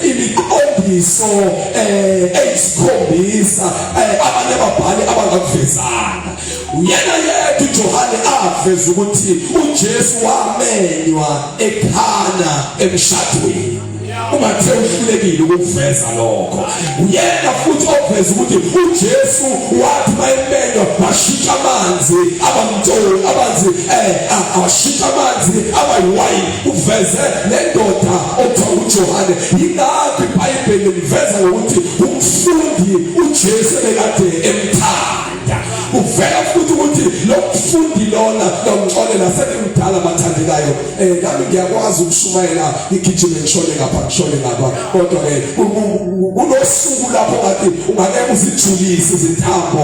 imiqondiso eh eyisikhombisa eh, abanye ababhali abangakuvezanga uyena yedwa uJohane aveza ukuthi uJesu wamenywa ekhana emshadweni ungathe uhlulekile ukuveza lokho uyena futhi oveza ukuthi uJesu wathi mayemenywa washintsha amanzi abamtsholi abazi eh awashintsha amanzi abayiwayini uveze lendoda okuthiwa uJohane. Yingakho iBhayibheli liveza ngokuthi umfundi uJesu ebekade emthanda. Kuvela futhi ukuthi lo mfundi lona lomxolela sebemdala abathandekayo. Eh nami ngiyakwazi ukushumayela igijime ngishone ngapha ngishone ngapha. Kodwa ke kunosuku lapho ngathi ungake uzijulise izintambo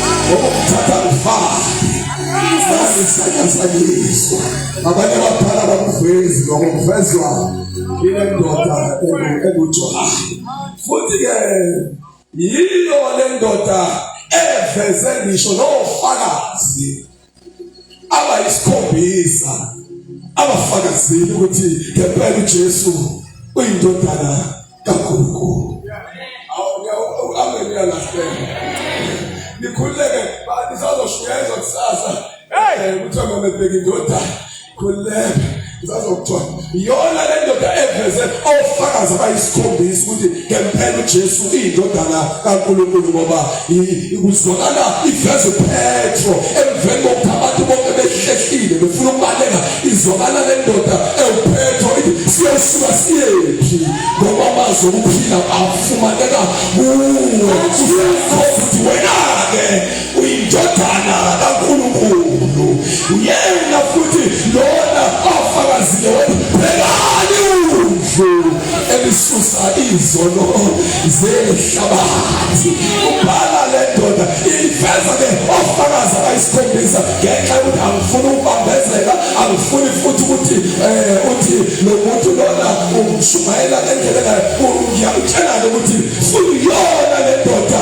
ngokumthatha mfana asisakasakiswa abanye abadala bakuvezi lokho kuvezwa ile ndoda ekujona futhi-ke yiyo le ndoda eveze ngisho nofakazi abayisikhombisa abafakazile ukuthi ngempela uJesu uyindodana kaNkulunkulu amen yalahleka nikhuleke bani sazoshunyayezwa kusasa hey kuthiwa mamebheka indodana khuleka ngizazokuthiwa iyona le ndoda eveze ofakazi abayisikhombisa ukuthi ngempela ujesu iyindodana kankulunkulu ngoba kuzwakala iveze upetro emveni kokuthi abantu bonke behlehlile befuna ukubaleka izwakala le ndoda ewupetro ithi siyosuka siyephi ngoba amazi okuphila afumaneka kuwe uyakhomba ukuthi wena-ke uyindodana kaNkulunkulu uyena futhi lona ofakazile webhekani uvu elisusa izono zehlabathi ubhala le ndoda ifeza ke ofakazi abayisikhombisa ngenxa yokuthi angifuni ukubambezela angifuni futhi ukuthi um uthi lo muntu lona umshumayela ngendlela engayakutshela-ke ukuthi fuyona le ndoda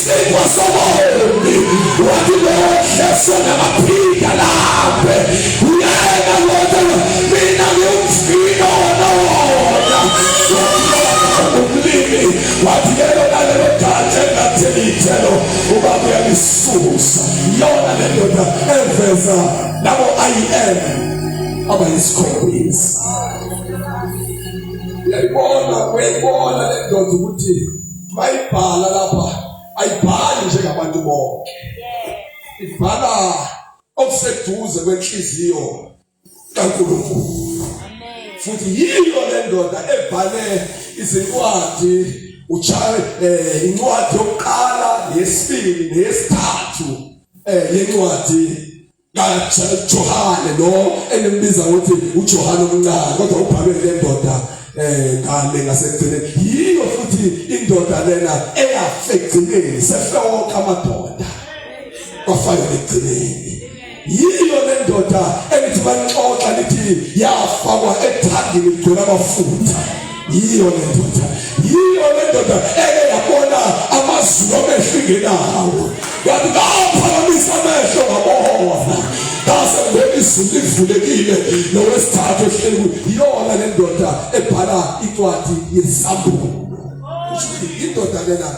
Sipho sobombi wathi lohle sona baphinda laphe uyena lona mina ngiyumfino wanona umlimi wathi ke lona lelo data engatheli ithelo ubaba uyalisusa yona le ndoda eveza labo IM abayisikhombisa uyayibona uyayibona le ndoda ukuthi mayibhala lapha ayibhali njengabantu bonke ibhala okuseduze kwenhliziyo kaNkulunkulu futhi yiyo le ndoda ebhale izincwadi uchawe eh, incwadi yokuqala yesibili neyesithathu eh, yencwadi Johane lo enembiza ukuthi uJohane omncane kodwa ubhalwe le ndoda eh ngale ngasekugcineni yiyo futhi indoda lena eyafegcineni sefewoka amadoda kwafana ekugcineni yiyo le ndoda elithi banixoxa lithi yafakwa ethangini igcwele amafutha yiyo le ndoda yiyo le ndoda eke yabona amazulu amehlingenawo yathi ngaphakamisa amehlo ngabona ngase ngibona izulu livulekile nowesithathu ehleli yiyona le ndoda ebhala incwadi yesambulo indoda lena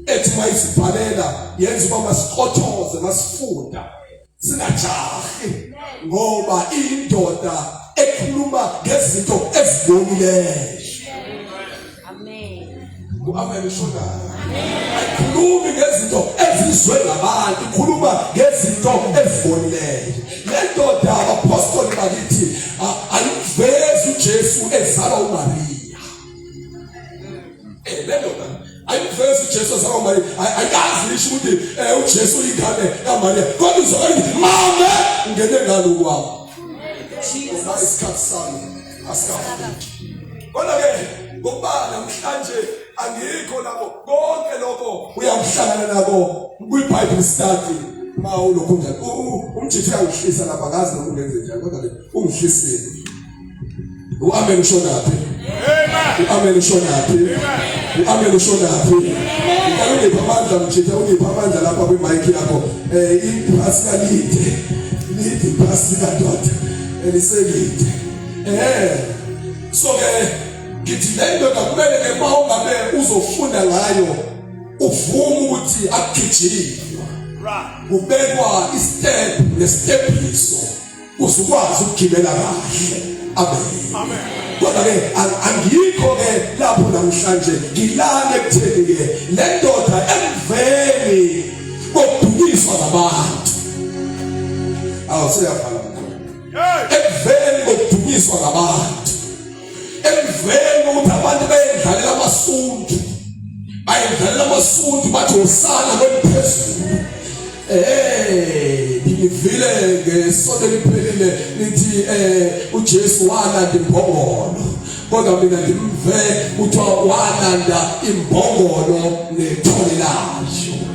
ethi mayisibhalela yenza uba masiqothoze masifunda singajahi ngoba indoda ekhuluma ngezinto ezibonileyo amen ishoda ayikhulumi ngezinto ezizwe ngabantu ikhuluma ngezinto ezibonileyo le ndoda abapostoli bakithi ayivezi ujesu ezala umariya um eh, le ndoda ayivezi ujesu asawamariya ayikazi lisho ukuthi um ujesu uyingane kamariya kodwa uzokalithi mame ungene ngalo kwabo uma isikhathi sami asikafiki kodwa-ke ngokuba namhlanje angikho lapho konke lokho uyakuhlangana nako kwi-bible study ma ulokhu njani umjithu uyangihlisa lapha ngazi nokungenze njani kodwa-ke ungihlisile Uamen ushonaphi? Amen. Uamen ushonaphi? Amen. Uamen ushonaphi? Ngicela ungiphe amandla mjitha ungiphe amandla lapha kwi mic yakho. Eh iphasika lide. Lide iphasika dot. Eliselide. Eh. So ke ngithi le ndoda kumele ke uma ungabe uzofunda ngayo uvume ukuthi akugijile. Right. Kubekwa i step nestephiso. usukwazi ukugibela kahle amen amen kodwa ke angikho ke lapho namhlanje ngilane kutheni ke le ndoda emveni kodukiswa ngabantu awuseyavala mkhulu emveni kodukiswa ngabantu emveni kokuthi abantu bayedlalela amasundu bayedlalela amasundu bathi usana kweliphezulu eh ngivile ngesonto liphelile lithi eh uJesu walanda imbongolo kodwa mina ngimve kuthiwa walanda imbongolo nethole layo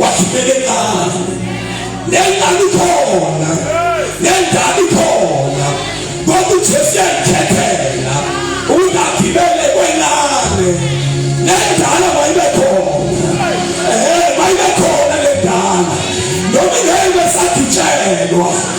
wathumela ingane nengane ikhona nengane ikhona ngoba uJesu uyayikhethela ukuthi agibele kwenane nendala mayibe khona ehe mayibe khona lendala noma ingeke besagitshelwa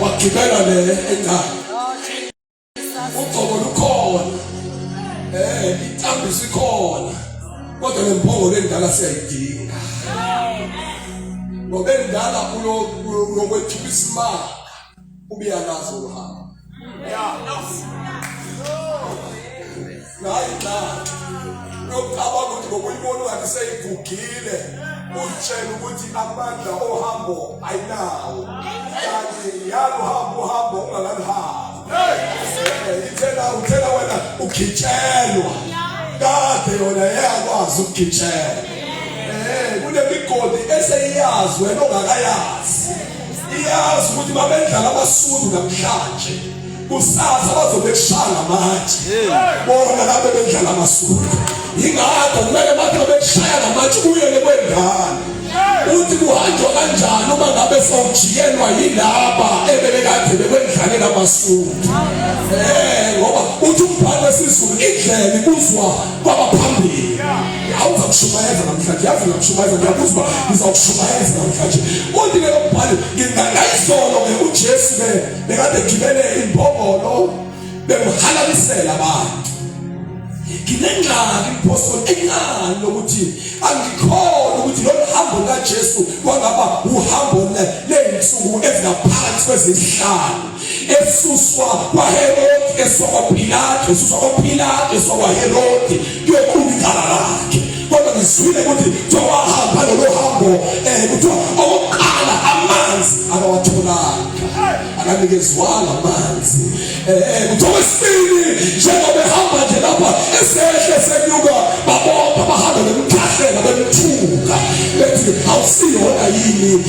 wagibela le endawo ugcobo lukhona eh intambi sikhona kodwa nemphongolo endala siyayidinga ngoba endala ulokwethula isimanga ubiyalazi uhambo hayi na nokucabanga ukuthi ngokuyibona ungathi seyigugile uzitshela ukuthi amandla ohambo ayinawo kanti yaluhamba uhambo ungakaluhambi ithela uthela wena ugitshelwa kade yona yeyakwazi ukugitshelwa um kunemigodi eseyiyazi wena ongakayazi iyazi ukuthi babendlala abasundu namhlanje kusasa bazobe kushaya manje bona lapho bendlala amasundu ingakho kumele bathi bekushaya ngamanje ubuyele kwendala uthi kuhanjwa kanjani uma ngabe sawujiyelwa yilaba ebebekade bekwendlalela amasundu um ngoba uthi umbhalo wesizulu indlela ikuzwa kwabaphambili awuzakushumayeza namhlanje yazi uyakushumayeza ngiyabuza uba ngizawushumayeza namhlanje uthi ke lombhali ngingangayizolo ke ujesu ke bekade gibele imbongolo bekuhalalisela abantu nginengxaki mphostoli encane lokuthi angikhona ukuthi lolu hambo lukajesu kwangaba uhambo ley'nsuku ezingaphansi kwezinhlanu esuswa kwaherodi esokwapilato esuswa kwapilato esokwaherodi kuyoqhubikala lakhe kodwa ngizwile ukuthi kuthiwa wahamba lolo hambo um kuthiwa okokuqala amanzi akawatholanga akanikezwanga amanzi um kuthiwa wesibili njengoba ehamba nje lapha esehle senyuka babopha bahambe bemkhahlela bemthuka bethi awusiyona yini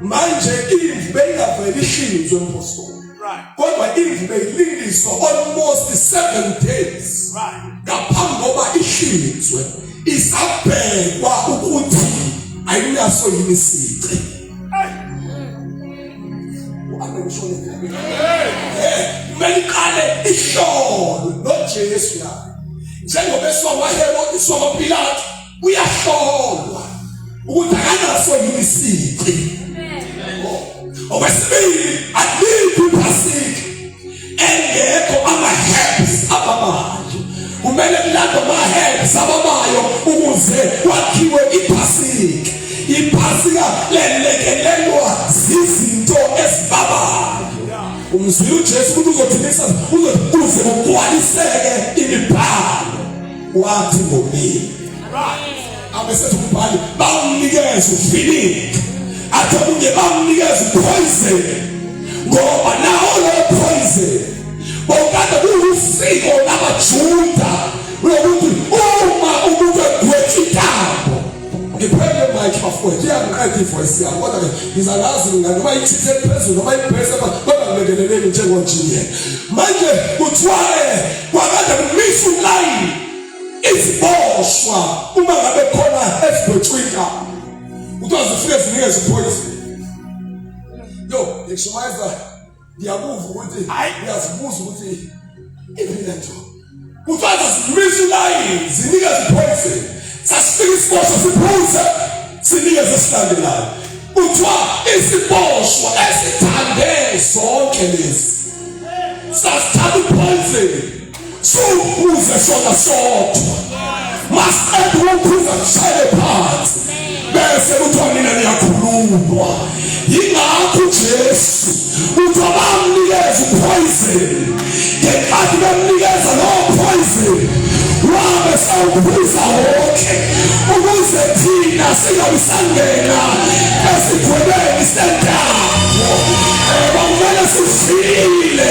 manje imvu beyingavele ihlinzwe mphostoli kodwa imvu beyilingiswa almost 7 days ngaphambi koba ihlinzwe isabhekwa ukuthi ayinaso yini isici uameshone ngeke kumele iqale ihlolwe noJesu naye njengoba eswa waHerodi swa kwaPilate uyahlolwa ukuthi akanaso yini isici okwesibili aliphi iphasiki engekho ama-herbs abamanje kumele kulandwe ama-herbs abamayo ukuze kwakhiwe iphasiki iphasika lelekelelwa zizinto ezibabayo umzwile ujesu ukuthi uzothini uzothi kuze kugcwaliseke imibhalo wathi ngomile abesethi umbhali bawunikeza ufilingi athi omunye bawunikeza upoison ngoba nawo lowo poison bawukade kuwusiko labajuda lokuthi uma umuntu egwetha intambo ngiphele mike bafowethu iyangiqeda ivoice yami kodwa ke ngizalazi mina noma ithithe phezulu noma ibhese kodwa ngilekeleleni njengonjinye manje kuthiwae kwakade kumisa ulayini iziboshwa uma ngabe khona ezibhotshwika kuthiwa zifike zinikeza iphoyisi yo ngishumayeza ngiyakuva ukuthi hayi uyazibuza ukuthi iphile nje kuthiwa zidlulisa ilayini zinike ziphoyise sasifika isiboshwa siphuze sinike zesilandelayo kuthiwa isiboshwa esithande zonke lezi sasithatha uphoyiseni sowukhuze sona sodwa masiqeda ukukhuza kushayele phansi bese kuthiwa nina niyakhululwa yingakho ujesu kuthiwa bamnikeza uphoyizeni ngenkathi bemnikeza lowo phoyizeni wabe sawukhuza wonke ukuze thina singabi sangena esigwebeni sentaba um eh, kwakumele sifile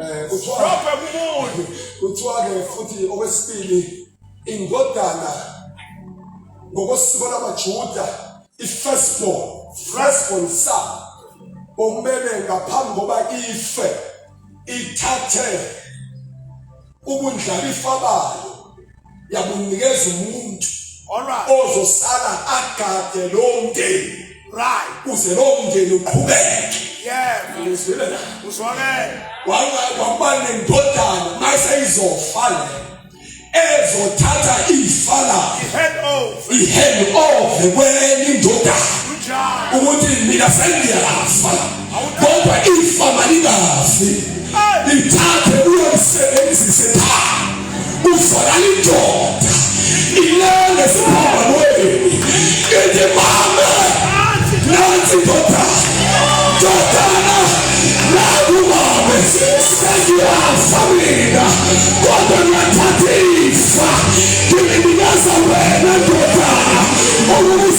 um kuthiwa-ke futhi okwesibili indodana ngokosiko lamajuda i-firstborn firstborn sa okumele ngaphambi koba ife ithathe ubundlalifa bayo yabunikeza umuntu Alright. ozosala agade lowo mndeni Right. kuze lowo mndeni uqhubeke Yeah. ngizwile na Uzwakele. wakuba nendodana maseyizofa le ezothatha ifa layo He head over. ihende ove kwenye indodana Kunjalo. ukuthi mina sengiyafa kodwa ifa malingafi lithathe uyolisebenzise pha uzwakala indoda ilele siphambanweni ithi mama nansi ndoda ndodana nakumame sengiyafa mina kodwa ngiyathatha ifa ngilinikeza wena ndodana okubusa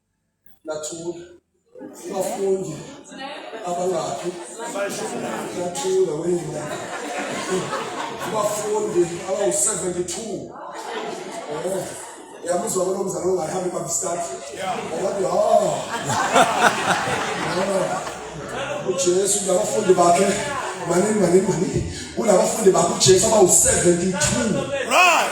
Nathula. Abafundi abangakhi nathula wena. Abafundi abawu-72 eh, yamuzwa kulo mzali ongahambi babistart wathi ha ujesu nabafundi bakhe maningi maningi maningi kunabafundi bakhe ujesu abawu-72 Right.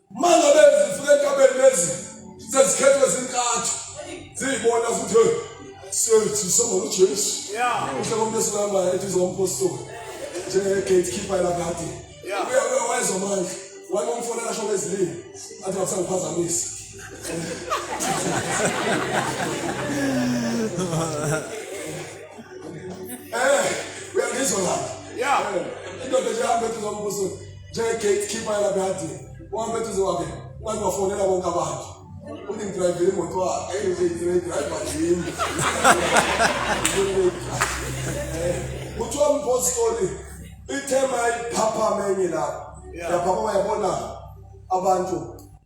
Mangabe zifika entabeni lezi sezikhethwe zintathu ziyibona futhi sethi soma uJesu. Uhle komnesi lama ethi zompostoli. Njenge gatekeeper lakade. Uya uya wayezomandla. Wayomfona lasho bezilini. Athi wakusangiphazamisa. Eh, uyangizwa la. Yeah. Indoda nje hambe ethi zompostoli. njenge-gatekeeper yalabeyadini uhambe eduze kwakhe ungathi bafonela bonke abantu uthi ngidrayivile imoto wakhe eyidrayiva yimi kuthiwa umpostoli ithema iphaphama enye lapho yaphapha yabona abantu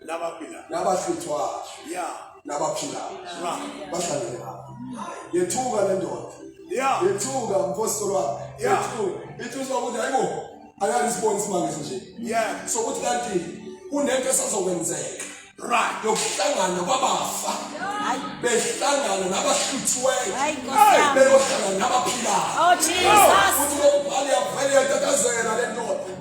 labaphilayo nabahlutshwayo ya nabaphilayo right bahlangene lapho yethuka le ndoda ya yethuka mpostoli wami Ya. yethuka ithi uzwa ukuthi hayi bo ayani isiboni isimangisi nje yeah sokuthi kanti kunento esazokwenzeka right yokuhlangana kwabafa Hayi. behlangana nabahluthiweyo Hayi, Nkosi Hey, yami. beyohlangana nabaphilayo Oh, Jesus. futhi lokubhala yavele yatatazela le ndoda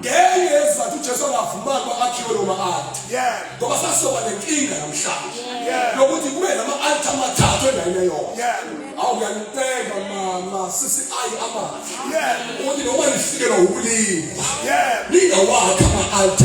ngenye yezizathu ujesu angavumanga uba akhiwe lo ma-alta ngoba sasizoba nenkinga namhlanje yokuthi kube nama-alta amathathu endaweni eyona awu uyaniceba mama sisi ayi amandla ukuthi noma nifikelwa wubulima ningawakhi ama-alta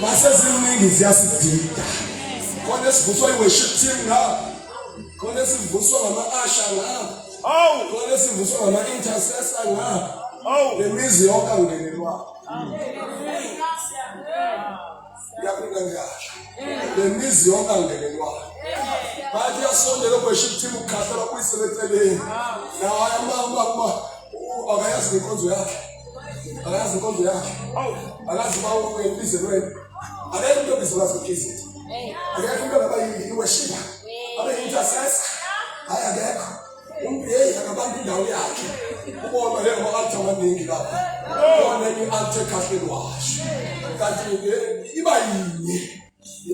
maseziningi ziyasidida khona esivuswa i-worship team ngapha khona esivuswa ngama-asha ngapha awu khona esivuswa ngama-intercessor ngapha awu le mizi yonke angenelwayo yaphila ngiyasho le mizi yonke angenelwayo bathi uyasondela o-worship team ukukhahlelwa kuyisebeceleni naye amama uba akayazi nenkonzo yakhe akazi inkonzo yakhe akazi uba wena ubize lwena akekho into ebiza ukwazi ukhizi akekho into ngaba iweshiba abe intercessor hayi akekho umuntu yeyi akabamba indawo yakhe ubona le ngama-alta amaningi lapho ubona enye i-alta ekhahleni washo kanti iba yinye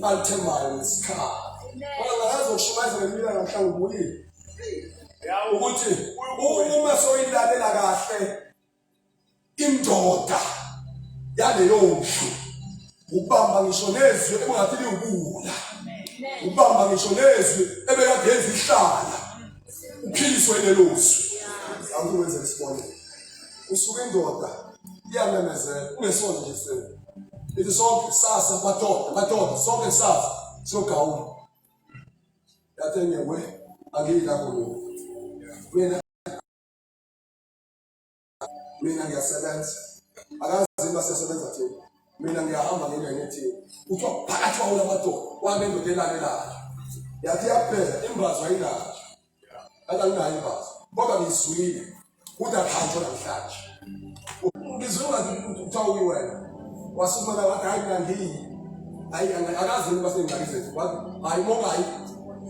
alithembayo ngesikhathi ngoba ngayazi ukushumayeza ngempilo namhlanje ubuyile ukuthi uma soyilalela kahle indoda yaleyo ndlu ukubamba ngisho nezwi ebingathi liwubula ukubamba ngisho nezwi ebekade yenza ihlala uphiliswe lelo zwi awuthi wenze isibonelo usuke indoda iyamemezela ungesona nje sifebe ithi sonke kusasa madoda madoda sonke kusasa siyogawula yathi enye we angiyi lakho lokhu mina mina ngiyasebenza akazi uma sesebenza thina mina ngiyahamba ngingene thina kuthiwa phakathi kwawula madoda wake ndoda elalelayo yathi yaphela imbazwa ilapha Akanginayo imbazo. Kodwa ngizwile ukuthi akhanjwe namhlanje. Ngizwe ngathi kuthiwa uyiwena. Wasukuma wathi hayi mina ngiyi. Hayi akazi ukuba sengxaki zethu. Wathi hayi mongayi.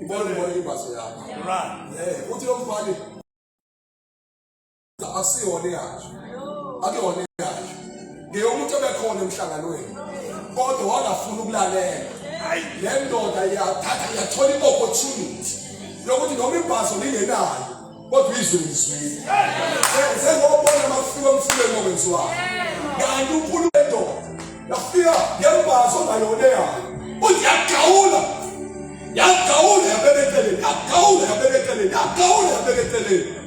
Ibona ibona imbazo yakho. Right. Eh uthi lo mfana asiyona eyakhe akuyona eyakhe ngeyomuntu obekhona emhlanganweni kodwa wangafuna ukulalela le ndoda yathatha yathola i-opportunity yokuthi noma ibhaso lingenayo kodwa izwe lizwile sengobona makufika omfuleni okwenziwayo kanti unkulunkulu endoda yafika yembhaso ongayona eyayo uthi yagawula yagawula yabeka eceleni yagawula yabeka eceleni yagawula yabeka eceleni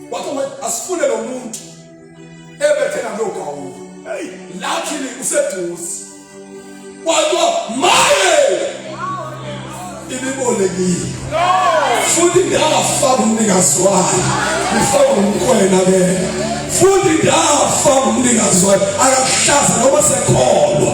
Wathi wathi asifune lo muntu ebethe nalo gawulo. Hey, luckily useduze. Kwathiwa maye ibibolekile. Futhi ndafa kumnikazi wayo. Ngifaka umkhwena ke. Futhi ndafa kumnikazi wayo. Akakuhlaza noma sekholwa.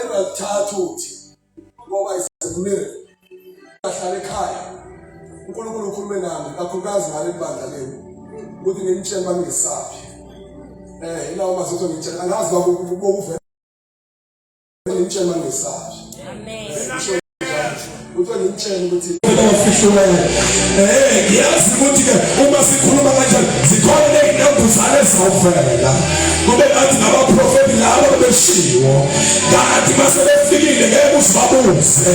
engathatha uthi ngoba isekulele ahlale ekhaya uNkulunkulu ukhulume nami kakhulukazi ngale bandla lenu ukuthi ngimtshele uma ngingesaphi um eh, ilawo mazotho ngitshela angazi bakuvela ngimtshela ngesashi amen uthe ngimtshela ukuthi ofishulayo eh ngiyazi ukuthi ke uma sikhuluma kanjani zikhona nezinambuzane ezizovela kube ngathi ngabaprofeti labo beshiwo kanti mase befikile ngeke usibabuze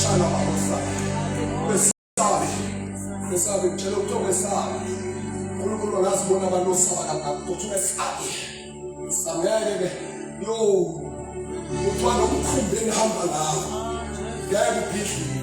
Shala makosa. Kwesabi. Kwesabi ngitshela ukuthi okwesabi. Unkulunkulu angazibona abantu osaba kangaka ukuthi kwesabi. Samele ke. Yo. Uthwala umkhumbi engihamba ngawo. Ngeke ubhidlike.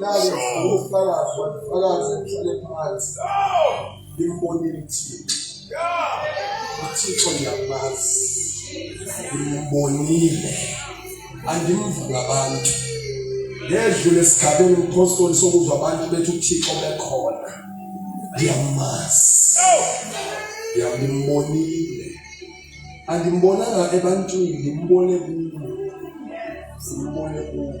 Nami ngufakazi wafakazi ngihlale phansi. Ngimbonile uThixo. UThixo ngiyamazi. Ngimbonile. Angimvuka abantu. Ngedlule esigabeni umpostoli sokuzwa abantu bethi uThixo bekhona. Ngiyamazi. Ngimbonile. Angimbonanga ebantwini, ngimbone kuwe. Simbone kuwe.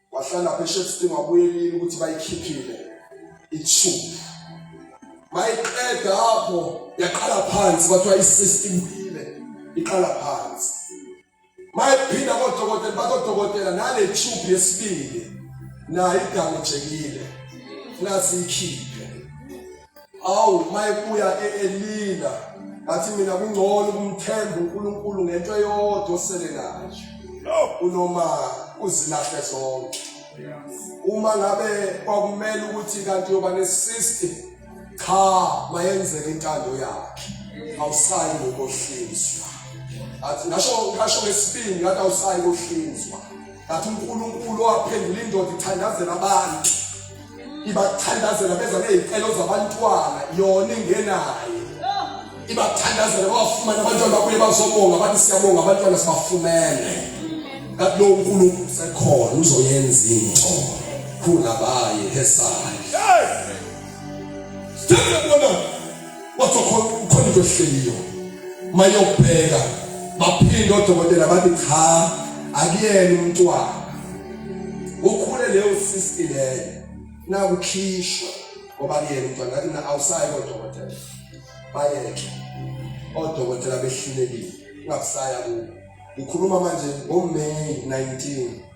wahlala phe shefting wabuyelile ukuthi bayikhiphile ithubu mayiqeda apho yaqala phansi kwathiwa i-system ile iqala phansi mayiphinda kodokotela bakodokotela nale tube yesibili nayo idamejekile nasi ikhiphe awu mayebuya e-elila ngathi mina kungcono ukumthemba unkulunkulu ngento eyodwa osele nayo kunoma uzilahle zonke uma ngabe kwakumele ukuthi kanti uyoba nesisti cha mayenzeka intando yakhe awusayi ngokohlinzwa athi ngasho ngasho ngesibindi ngathi awusayi ngohlinzwa ngathi unkulunkulu waphendula indoda ithandazela abantu ibathandazela beza nezicelo zabantwana yona ingenayo ibathandazela bawafumane abantwana babuye bazobonga bathi siyabonga abantwana sibafumene kanti lowo nkulunkulu usekhona uzoyenza into khulabaye hesale Hey! Stand up, wathi ukhona into ehleliyo mayokubheka baphinde odokotela bathi cha akuyena umntwana ukhule leyo sisti leyo nakukhishwa ngoba kuyena umntwana ngathi na awusayi kodokotela bayeke odokotela behlulekile ungakusaya kubo ngikhuluma manje ngoMay 19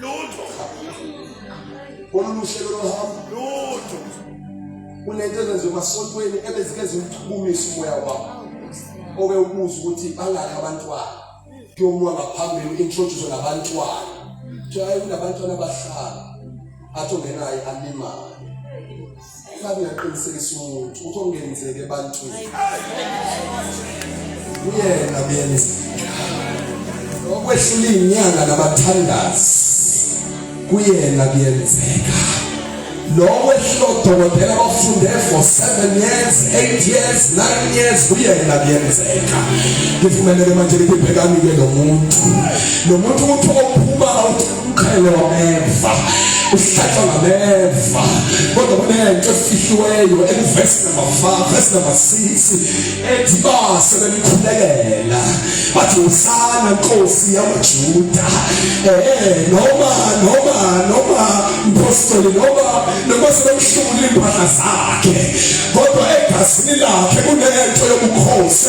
lutho kololu hlelo lohambo lutho kunento ezenziwa emasontweni ebezike ziwuchukumisa umoya wabo obe ubuza ukuthi bangaki abantwana kuyomuwa ngaphambili u-introduce nabantwana kuthiwa hayi kunabantwana abahlala athi ongenayo alimali Uma ngingaqinisekisa umuntu ukuthi okungenzeki ebantwini kuyena kuyenzeka. Okwehlula inyanga nabathandazi kuyena kuyenzeka. Lowo ehlula odokotela bafunde for 7 years, 8 years, 9 years kuyena kuyenzeka. Ngivumeleke manje liphephelani ke lo muntu. Lo muntu uthi ophuma out umqhele wameva uhlatshwa ngameva kodwa kunento efihliweyo ekuvesi number 5 verse number 6 ethi base bemkhulekela bathi usana nkosi yamajuda eh noma noma noma mpostoli noma noma sebemshumula impahla zakhe kodwa egazini lakhe kunento yobukhosi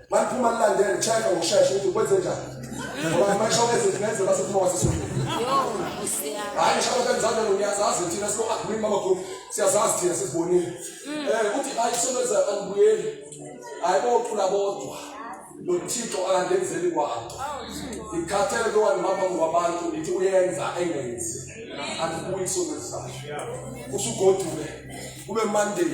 Maphuma lilandele check ngokushesha ukuthi kwenze njani. Ngoba masho ngezinto base phuma wasisulu. Hayi ngisho kanjalo ngiyazazi thina so agree mama group siyazazi thina sisibonile. Mm. Eh uthi hayi soneza angibuyeli. Hayi boqula bodwa. nothixo akandenzeli kwabo ngikhathele lowa ngihamba ngwabantu ngithi uyenza engenzi andibuyi isonto ezayo usugodule kube monday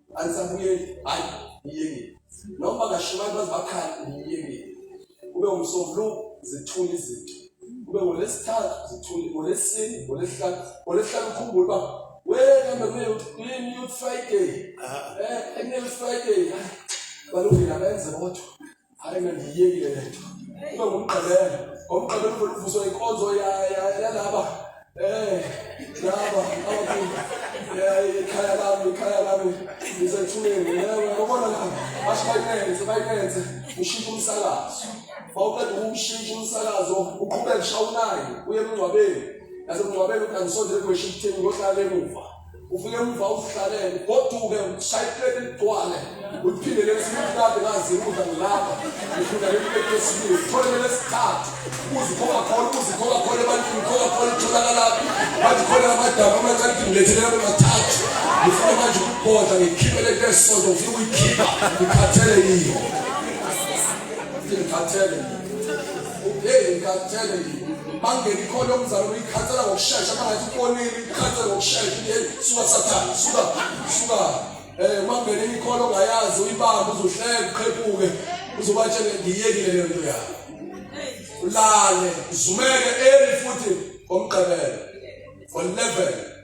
anisabuyeli hayi ngiyekile noma kashiwa abantu bazibakhali ngiyekile kube umsomlu zithula izinto kube ngolesithathu zithula ngolesini ngolesihlanu ngolesihlanu ukhumbule uba wena mame uklin youth friday ah. eh annual friday balungile abenze bodwa hayi mina ndiyiyekile le nto kube ngumgqibelo ngomgqibelo ufuna uvuswa inkonzo yalaba um laba ikhaya lami ikhaya lami ngisethuleni ngobona laba basho bayinenze bayinenze ushintshe umsakazo wawuqeda ukumshintsha umsakazo uqhubeke ushawunayo uye emngcwabeni nasemngcwabeni uthi angisondele kweshifteni ngohlala emuva ufike emva uzihlalele goduke ushaye ipleti ligcwale uphinde lesibili kade ngazi ukudla ngilapha ngifuna ipleti lesibili uthole lesithathu uzikhona khona uzikhona khona ebantwini khona khona utholakalaphi bathi khona amadaba amancane ngilethele labo mathathu ngifuna manje ukubhodla ngikhiphe lento esisonto ngifuna ukuyikhipha ngikhathele yiyo ngikhathele yiyo Ubheke ngikhathele yini? Bangena ikhona umzalo uyikhathela ngokushesha bangathi ukonile ikhathela ngokushesha yini? Suka sathane, suka, suka. Eh mangena ikhona ongayazi uyibamba uzohleka uqhephuke uzobatshela ngiyekile leyo nto yakho. Ulale, zumeke eli futhi ngomgqibelo. 11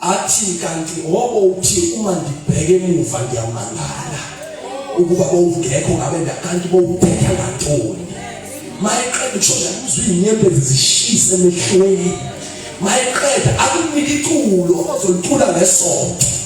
athi kanti ngoba uthi uma ngibheke emuva ngiyamangala ukuba bowungekho ngabe kanti bowubheka ngantoni mayeqeda ukushoda kuzwa inyembezi zishise emehlweni mayeqeda akunike iculo ozolitula ngesonto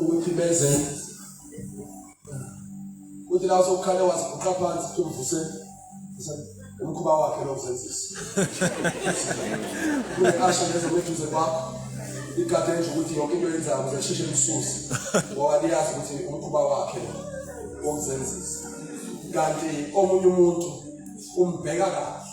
ukuthi benze ukuthi la sokukhale waziguqa phansi tumvuse umkhuba wakhe lokuzenzisa kuyasho lezo meduze kwakho igade nje ukuthi yonke into yenzayo ukuze sheshe lisusi ngoba liyazi ukuthi umkhuba wakhe wokuzenzisa kanti omunye umuntu umbheka kahle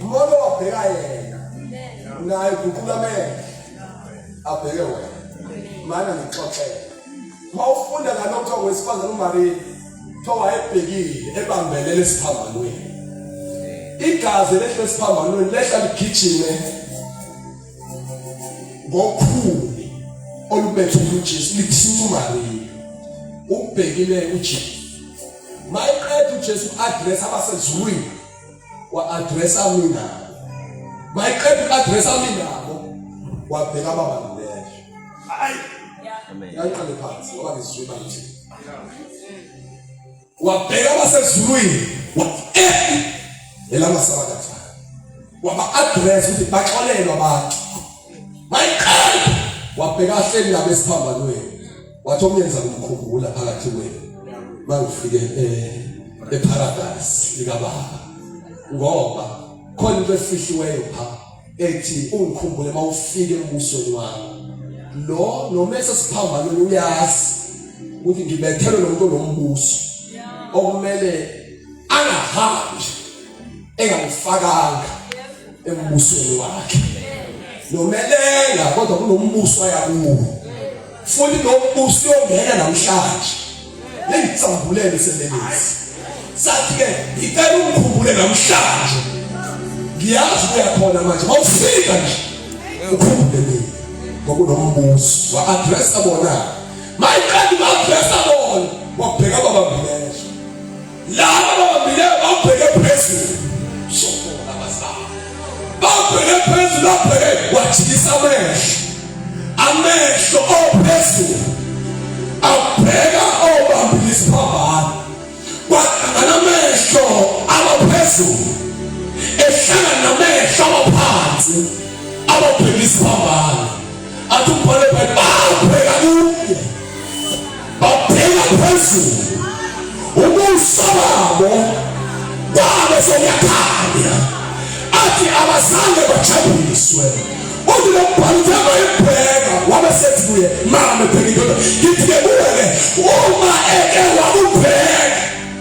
Mbono wabheka yena naye guqula mele abheke wena mana ngixoxele uma ufunda ngalokho wesifazane uMaria kuthiwa wayebhekile ebambelele esiphambanweni igazi lehle esiphambanweni lehla ligijime ngokhuni olubethwe uJesu lithi uMaria ubhekile uJesu mayeqeda uJesu address abasezulwini wa-addressa mina mayeqeda uku-addressa mina nabo wabheka baba ngibesho yayiqale phansi ngoba ngizizwe manje wabheka abasezulwini wathi eh elamasabakatha waba-address ukuthi baxolelwa abantu mayiqeda wabheka ahleli nabo esiphambanweni wathi okuyenza kumkhumbula phakathi kwenu mangifike eh, eparadise likababa ngoba khona into efihliweyo pha ethi ungikhumbule mawufike embusweni wami lo nomese siphambano uyazi ukuthi ngibethelwe lo muntu onombuso okumele angahambi engangifakanga embusweni wakhe nomelela kodwa kunombuso ayakuwo futhi nombuso uyongena namhlanje lengitsambulele sebelezi sathi ke ngicela ukukhumbule namhlanje ngiyazi uyakhona manje mawufika nje ukhumbule mina ngokunombuso wa address bona mayiqala uku address bona wabheka baba mina laba ababambileyo babheke phezulu sokona bazali babheke phezulu babheke wajikisa amehlo amehlo ophezulu abheka obambile isiphambano kwahlangana amehlo abaphezulu ehlangana namehlo abaphansi ababheke isiphambano athi umbhale bhale babheka kuye babheka phezulu ubuso babo kwabe sekuyakhanya athi abazange bajabuliswe uthi lokubhala ukuthi abayibheka wabe sethi kuye mama bheka indoda ngithi-ke kuwe-ke uma eke wakubheka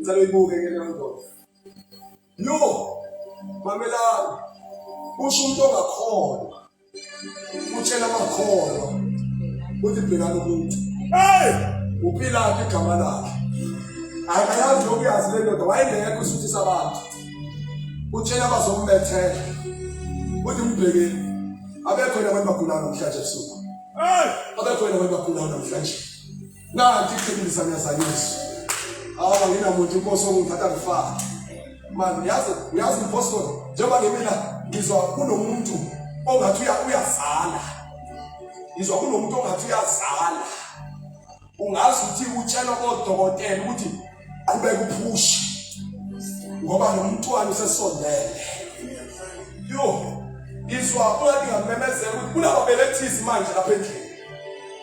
Ngicela uyibuke ke leyo ndoda. Yo, mamelani. Usho umuntu ongakholwa. Utshela amakholwa. Uthi bhekana umuntu. Hey! Uphila igama lakhe. Akayazi lokuyazi le ndoda wayengekho usuthisa abantu. Utshela abazombethela. Uthi mbheke. Abekho yena abantu bagulana namhlanje ebusuku. Hey! Abekho yena abantu bagulana namhlanje. Nanti iqiniso ngiyazanyiswa. Awu anginamuntu inkosi ongithatha ngifaka. Manje yazi yazi imposter njengoba ngemina ngizwa kunomuntu ongathi uyazala. Ngizwa kunomuntu ongathi uyazala. Ungazi ukuthi utshelwa kodokotela ukuthi qhubeka uphushe ngoba nomntwana usesondele yo izwa ungathi ngamemezela ukuthi kunababelethisi manje lapha endlini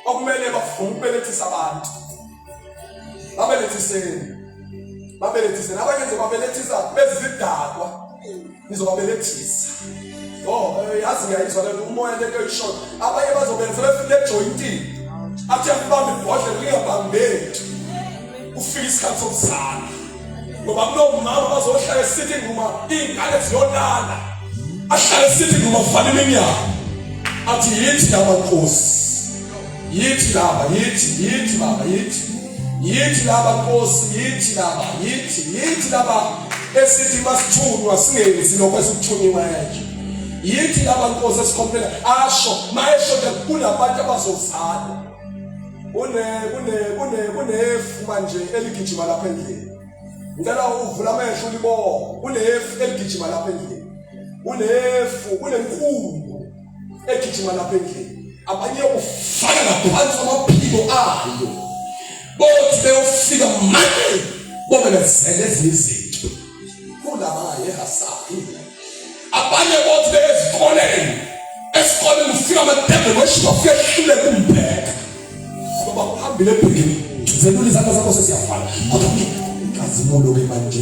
okumele bafuna ukubelethisa abantu babelethiseni babelethiseni abanye nje babelethisa bezidakwa ngizobabelethisa oh eh, yazi ngiyayizwa lento umoya lento eyishona abanye bazobenza befike ejoyintini athi akubambe ibhodlela lingabambeki ufike isikhathi sokuzala ngoba kunomama bazohlala esithi nguma iy'ngane ziyolala ahlale esithi nguma kufanele iminyaka athi yithi yamankosi Yithi laba, yithi, yithi baba, yithi. Yithi laba Nkosi, yithi laba, yithi, yithi laba esithi masithunywa singenzi lokho esikuthunyiwe nje. Yithi laba Nkosi esikhombela asho, mayesho nje kunabantu abazozala. Kune kune kune kunefu manje eligijima lapha endlini. Ngicela uvula amehlo ulibo. Kunefu eligijima lapha endlini. Kunefu, kunenkulu egijima lapha endlini abanye ufaka ngaphansi amaphiko ayo bothi beyofika manje bomelezele ezinye izinto kulaba yehasabi abanye bothi beyezikoleni esikoleni ufika amadebe kweshiba ufike ehlule kumbheka ngoba uhambile ebhekini zelula izandla zakho sesiyafana kodwa ngiyazi mulo ke manje